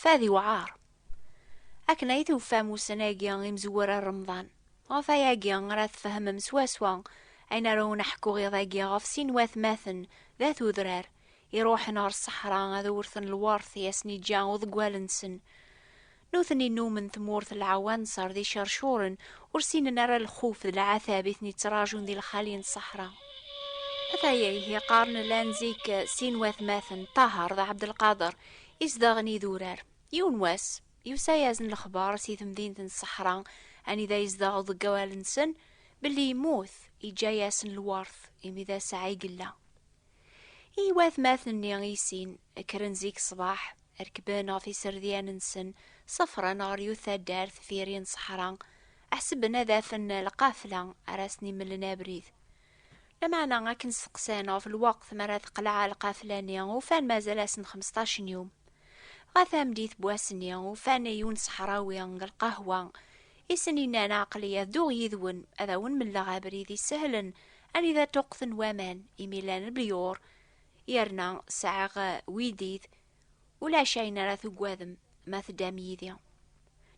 Fad iwɛaṛ. Akken ay tufam ussan-agi imezwura n Remḍan, ɣef wayagi ara tfehmem swaswa ayen ara awen-ḥkuɣ iḍ-agi ɣef sin n watmaten d at udrar iṛuḥen ɣer ṣṣeḥra ad awrten lweṛt i asen-iǧǧa uḍeggal-nsen. Nutni nnumen tmurt n lɛwanṣer d iceṛcuṛen ur ssinen ara lxuf d lɛatab i ten-ittṛajun di lxali n ṣṣeḥra. Ataya ihi qqaren llan zik sin n watmaten, Ṭaher d Ɛebdelqader, Izdaɣen idurar. Yiwen wass, yusa-yasen lexbar si temdint n ṣṣeḥra anida yezdeɣ uḍeggal-nsen belli yemmut, yeǧǧa-yasen lwert imi d aseɛɛa i yella. I watmaten-nni i sin, kkren zik ṣṣbeḥ, rekben ɣef iserdian-nsen, ṣefren ɣer yiwet taddart deffir-i n ṣṣeḥra, ḥesben ad afen lqafla ara asen-imellen abrid. Lameɛna akken steqsan ɣef lweqt mi ara teqleɛ lqafla-nni, ufan mazal asen xmesṭac n yum. Ɣer tameddit n wass-nni, ufan yiwen ṣeḥrawi deg lqahwa, i sen-yennan, Aql-iyi ad dduɣ yid-wen, ad awen-melleɣ abrid isehlen anida ṭṭuqqten waman, imi llan lbiyur, yerna sɛiɣ widid Ulac ayen ara tugadem ma teddam yid-i.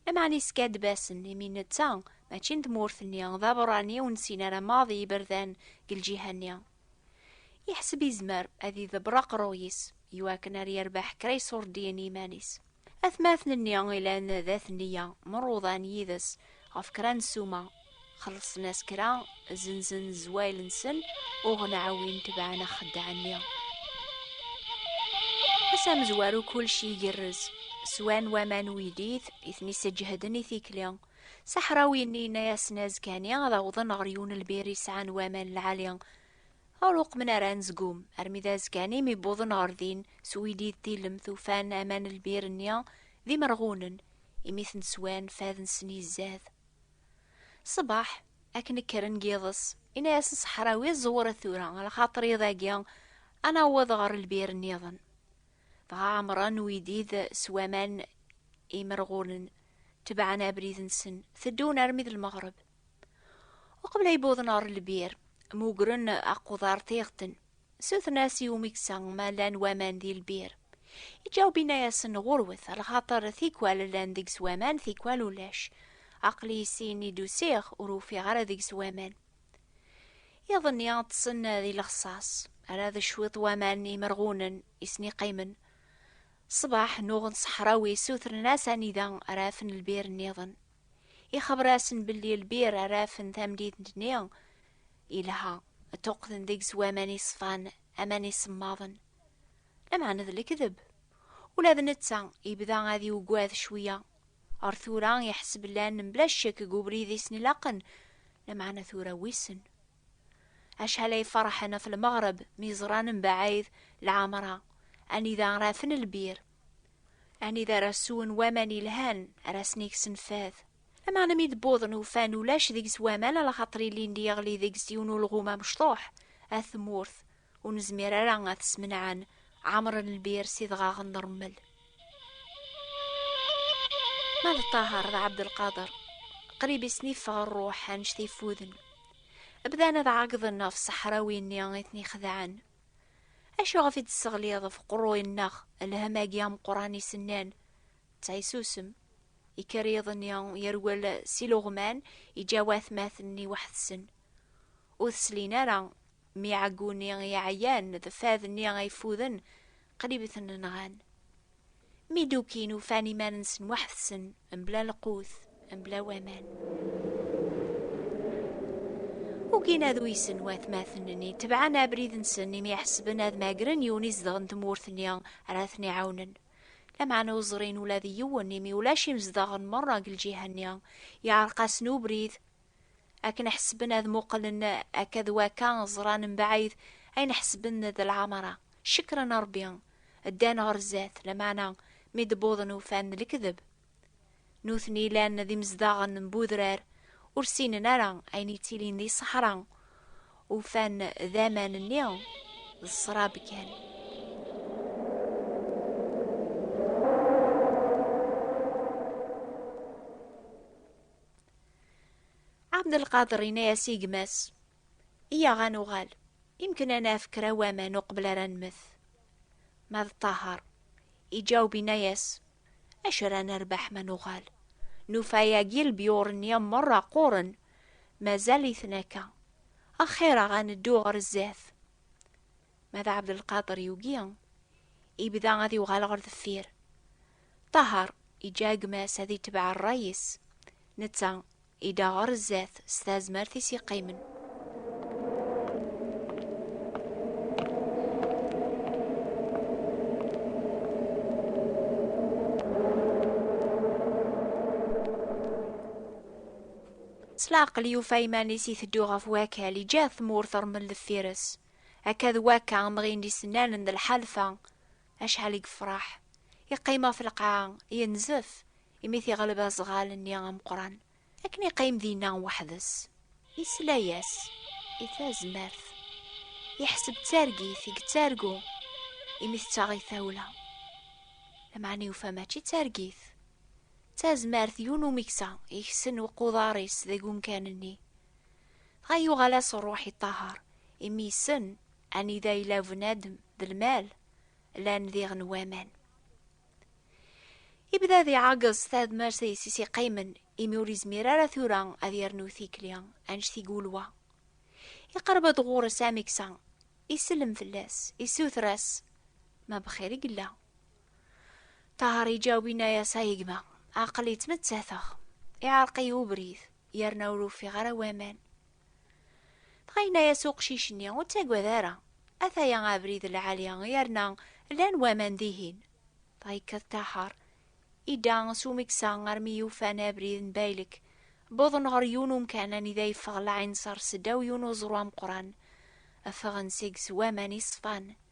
Lameɛna yeskaddeb-asen, imi netta mačči n tmurt-nni, d aberrani ur nessin ara maḍi iberdan deg lǧiha-nni. Yeḥseb yezmer ad idebber aqerruy-is i wakken ad yerbeḥ kra iṣurdiyen i yiman-is. Atmaten-nni yellan d at nneyya, mruḍan yid-s ɣef kra n ssuma, xellṣen-as kra zenzen zzwayel-nsen uɣen ɛawin tebɛen axeddaɛ-nni ass amezwaru kulci igerrez swan waman uydit i ten-isseǧehden i tikli saḥrawi-nni yenna-yasen azekani ad awḍen ɣer yiwen lbir yesɛan waman lɛali ur uqmen ara anezgum armi d azekani mi wwḍen ɣer din s uydid tilemt ufan aman lbir-nni d imerɣunen imi ten-swan fad-nsen izzad Ṣṣbeḥ, akken kkren deg yiḍes, yenna-yasen Ṣeḥrawi, Ẓewret tura, ala xaṭer iḍ-agi ad naweḍ ɣer lbir nniḍen. Dɣa ɛemṛen uyeddid s waman imerɣulen, tebɛen abrid-nsen, teddun armi d lmeɣreb. Uqbel ay wwḍen ɣer lbir, mmugren aquḍar tiɣeṭṭen. Sutren-as i umeksa ma llan waman di lbir. Iǧawbina-yasen ɣurwet, lxaṭer tikwal llan deg-s waman tikwal ulac. Aql-i sin i d-usiɣ ur ufiɣ ara deg-s waman. Iḍ-nni ṭṭsen di lexṣaṣ, ara d cwiṭ waman imerɣunen i sen-iqqimen. Ṣṣbeḥ nuɣen ṣeḥrawi sutren-as anida ara afen lbir-nniḍen. Ixebber-asen belli lbir ara afen tamdint-nni yelha, ṭṭuqten deg-s waman iṣfan, aman isemmaḍen. Lameɛna d lekdeb. Ula d netta yebda ad yugad cwiya. Ar tura iḥseb llan mebla ccek deg ubrid i sen-ilaqen, lameɛna tura wissen. Acḥal ay ferḥen ɣef lmeɣreb mi ẓran mebɛid lɛemra anida ara afen lbir. Anida ara swen waman yelhan ara sen-iksen fad. Lameɛna mi d-wwḍen ufan ulac deg-s waman ala xaṭer ilindi yeɣli deg-s yiwen ulɣum amecṭuḥ, at tmurt, ur nezmir ara ad t-smenɛen, ɛemren lbir s idɣaɣen n rrmel. Ma d Ṭaher d Ɛebdelqader, qrib i sen-iffeɣ rruḥ anect ifuden. Bdan ad ɛeggḍen ɣef ṣṣeḥrawi-nni i ten-ixedɛen. Acuɣef i d-tesseɣliḍ ɣef uqerruy-nneɣ lham-agi ameqqran i s-nnan? Ttɛisusem. Ikker yiḍ-nni, yerwel s iluɣman, iǧǧa watmaten-nni weḥd-sen. Ur t-slin ara, mi ɛegguni i ɛyan d fad-nni ay ffuden, Qrib i ten-nɣan. Mi d-ukin ufan iman-nsen waḥd-sen, mebla lqut, mebla waman. Ugin ad uysen watmaten-nni, tebɛen abrid-nsen imi ḥesben ad magren yiwen izedɣen tmurt-nni ara ten-iɛawnen. Lameɛna ur ẓrin ula d yiwen imi ulac imezdaɣen merra deg lǧiha-nni, yeɛreq-asen ubrid akken ḥesben ad muqlen akka d waka ẓran mbaɛid ayen ḥesben d lɛamara cekren Rebbi ddan ɣer zdat lameɛna mi d-wwḍen ufan lekdeb nutni llan d imezdaɣen n budrar ur ssinen ara ayen yettilin di ṣṣeḥra ufan d aman-nni d ṣṣrab kan Abdelkader yenna-yas i gma-s, Iyaɣ ad nuɣal, imken ad naf kra n waman uqbel ara nmet. Ma d Ṭaher, iǧaweb yenna-yas, Acu ara nerbeḥ ma nuɣal? Nufa yagi lbyur-nni merra qquren, mazal-iten akka. Axir-aɣ ad neddu ɣer sdat. Ma d Abdelkader yugi, yebda ad yuɣal ɣer deffir. Ṭaher yeǧǧa gma-s ad itbeɛ rray-is, netta idda ɣer zdat s tazmert-is yeqqimen. S leɛqel yufa iman-is iteddu ɣef wakal, iǧǧa tmurt rmel deffir-s. Akka d wakka amɣi n isennanen d lḥalfa, Acḥal i yefreḥ, iqqim ɣef lqaɛa, yenzef imi t-iɣleb aẓɣal-nni ameqqran, akken iqqim dinna weḥd-s. Yesla-yas i tazmert, yeḥseb d targit i yettargu imi tettaɣ-it tawla. Lameɛna yufa mačči d targit, d tazmert, yiwen umeksa yeksen uquḍar-is deg umkan-nni. Dɣa yuɣal-as ṛṛuḥ i ṭṭaher, imi yessen Anida yella bnadem d lmal, llan diɣen waman. Ibda di ɛaggeẓ tadmert-is i s-iqqimen imi ur izmir ara tura ad yernu tikli anect i gulwa. Iqerreb-d ɣur-s amiksa, isellem fell-as, issuter-as, ma bxir i yella. Ṭaher iǧaweb inna-yas ay gma, aql-i ttmettateɣ, iɛerq-iyi ubrid, yerna ur ufiɣ ara waman. Dɣa yenna-as uqcic-nni, Ur ttagad ara, ataya abrid lɛali, yerna llan waman dihin. Dɣa yekkat Taḥar, idda s umeksa armi yufan abrid n Baylek, wwḍen ɣer yiwen umkan anida yeffeɣ lɛinṣer seddaw yiwen uẓru ameqqran, ffɣen seg-s waman iṣfan.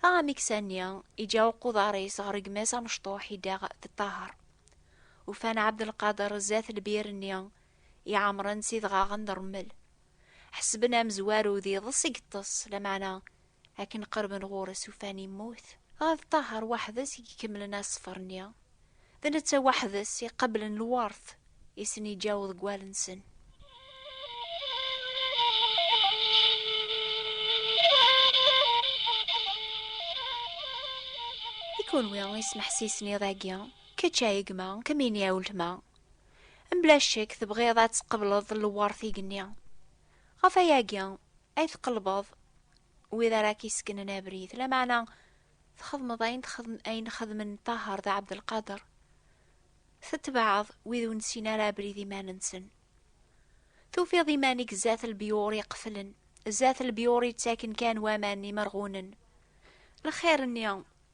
Taɣamiksa-nni iǧǧa uquḍar-is ɣer gma-s amecṭuḥ i daɣ teṭṭaher. Ufan Ɛebdelqader zdat lbir-nni iɛemren s idɣaɣen d rrmel. Ḥesben amezwaru d iḍes i yeṭṭes, lameɛna akken qerben ɣur-s ufan yemmut. Dɣa d Ṭaher weḥd-s i ikemmlen aseffer-nni. D netta waḥd-s i qablen lwert i sen-iǧǧa uḍeggal-nsen. I kunwi ismeḥsisen iḍ-agi, kečč a gma, kemmini a weltma, mebla ccek tebɣiḍ ad tqebleḍ lwert igenni. Ɣef wayagi ay tqellbeḍ wid ara k-iseknen abrid, lameɛna txedmeḍ ayen texdem, ayen xedmen Ṭaher d Ɛebdelqader, tetbeɛeḍ wid ur nessin ara abrid iman-nsen. Tufiḍ iman-ik zdat lbyur iqeflen, zdat lbyur yettaken kan waman imerɣunen. Lxir-nni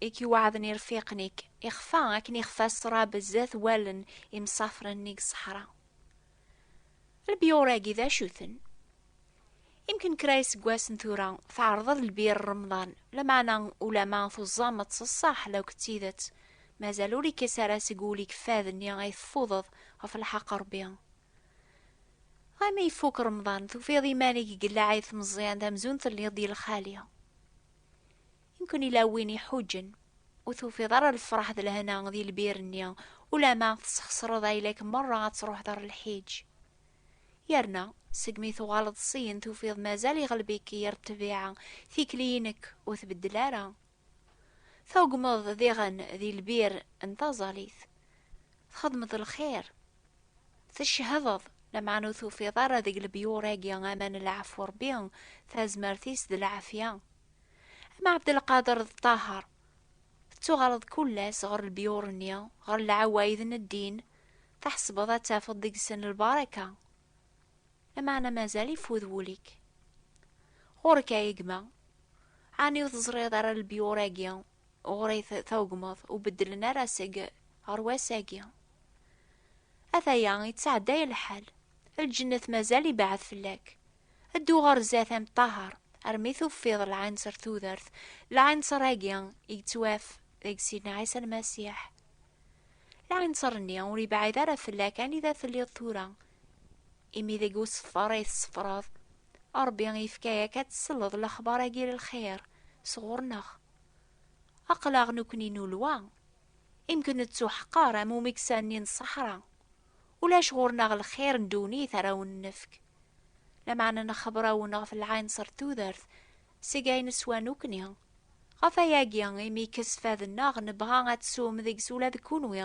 i k-iweɛden irfiqen-ik, ixfa akken ixfa ṣṣrab zdat wallen imsafren-nni deg ṣṣeḥra. Lbiyur-agi d acu-ten? Imken kra iseggasen tura tɛerḍeḍ lbir Remḍan, lameɛna ulama tuẓameḍ s ṣṣaḥ law d tidet, mazal ur ikkes ara seg wul-ik fad-nni ay teffudeḍ ɣef lḥeqq n Rebbi. Dɣa mi ifuk Remḍan, tufiḍ iman-ik deg Lɛid Meẓyan d amzun telliḍ di lxali. Yumkin ila win iḥuǧen, ur tufiḍ ara lefraḥ d lehna di lbir-nni, ulama tesxesreḍ ayla-k merra ad truḥeḍ ar lḥiǧ. Yerna, segmi tuɣaleḍ syin tufiḍ mazal iɣelb-ik yir ṭṭbiɛa, tikli-inek ur tbeddel ara. Tugmeḍ diɣen di lbir n taẓalit. Txedmeḍ lxir. Tecehdeḍ, lameɛna ur tufiḍ ara deg lebyur-agi aman n leɛfu Rebbi, tazmert-is d lɛafya. Ama Ɛebdelqader d Ṭaher, tettuɣaleḍ kullas ɣer lbyur-nni, ɣer lɛawayd n ddin, tḥesbeḍ ad tafeḍ deg-sen lbaraka. Lameɛna mazal ifud wul-ik. Ɣur-k a gma, ɛni ur teẓriḍ ara lbyur-agi ɣur-i tawegmeḍ ur beddlen ara seg ɣer wass-agi. Ataya yettɛedday lḥal, lǧennet mazal ibeɛɛed fell-ak. Ddu ɣer zdat a Meṭṭahaṛ, armi tufiḍ lɛinṣer tudert, lɛinṣer-agi i yettwaf deg Sidna Ɛisa Lmasiḥ. Lɛinṣer-nni ur yebɛid ara fell-ak anida telliḍ tura, imi deg useffer ay tessefraḍ, Ṛebbi yefka-ak ad tesleḍ lexbar-agi n lxir sɣur-neɣ. Aql-aɣ nekkni nulwa, imk nettuḥqer am umeksa-nni n ṣṣeḥra, ulac ɣur-neɣ lxir n ddunit ara awen-nefk, lameɛna nexber-awen ɣef lɛinṣer n tudert seg ay neswa nekkni, ɣef wayagi imi ikesfad-nneɣ nebɣa ad tsum deg-s ula d kenwi,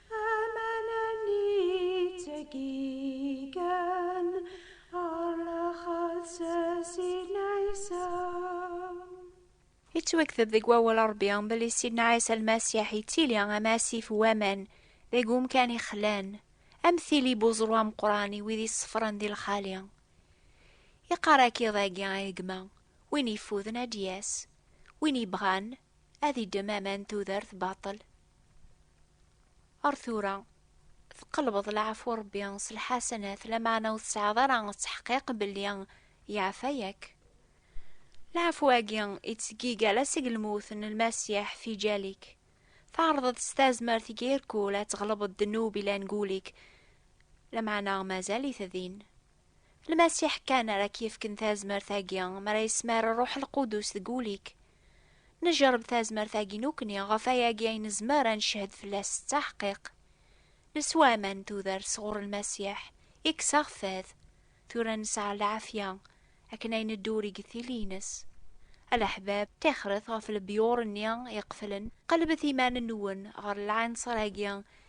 yettwakteb deg wawal Ṛebbi belli Sidna Ɛisa Lmasiḥ yettili am asif n waman deg umkan ixlan, am tili n uẓru ameqqran i wid iṣeffren di lxali. Iqqar akka iḍ-agi i gma, Win yeffuden ad d-yas, win yebɣan ad iddem aman n tudert baṭel, Ar tura, tqelbeḍ leɛfu Rebbi s lḥasanat, lameɛna ur tesɛiḍ ara ttḥeqqiq belli yeɛfa yak. Leɛfu-agi ittseggig ala seg lmut n Lmasiḥ fi jal-ik. Tɛerḍeḍ s tazmert i k-irkul ad tɣelbeḍ ddnub ilan deg ul-ik, lameɛna mazal-it din. Lmasiḥ kan ara k-yefken tazmert-agi, mi ara yesmar Rruḥ Lqudus deg ul-ik. Neǧreb tazmert-agi nukni ɣef ayagi ay nezmer ad neched fell-as s taḥqiq. Neswa aman n tudert sɣur Lmasiḥ, yekkes aɣ fad. Tura nesɛa lɛafya akken ay nedduri deg tili-nnes. A leḥbab, tixret ɣef lebyur-nni iqeflen, qellbet iman-nwen ɣer lɛinṣer-agi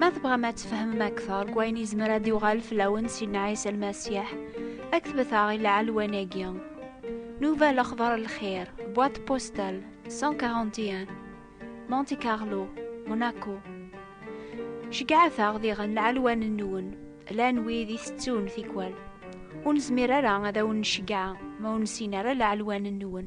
Ma tebɣam ad tfehmem akteṛ deg wayen izmer ad d-yuɣal fell-awen Sidna Ɛisa Lmasiḥ, ad k-tbet-aɣ i lɛelwan-agi. Nouvel Akhbar El Khair, boîte postale 141, Monte Carlo, Monaco. Ceggɛet-aɣ diɣen lɛelwan-nwen, llan wid i tettun tikwal. Ur nezmir ara ad awen-nceggɛa ma ur nessin ara lɛelwan-nwen.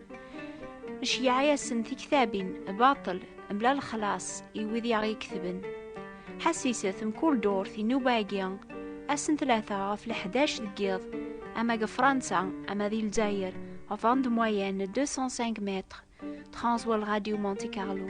Ceyyeɛ-asen tiktabin, baṭel, mebla lexlaṣ, i wid i aɣ-iketben. Ḥassiset, mkul ddurt, inuba-agi, ass n tlata ɣef leḥdac deg yiḍ, ama deg Fransa, ama di Lezzayer, ɣef bande moyenne 205 mètres, tɣanẓwa lradio Monte Carlo.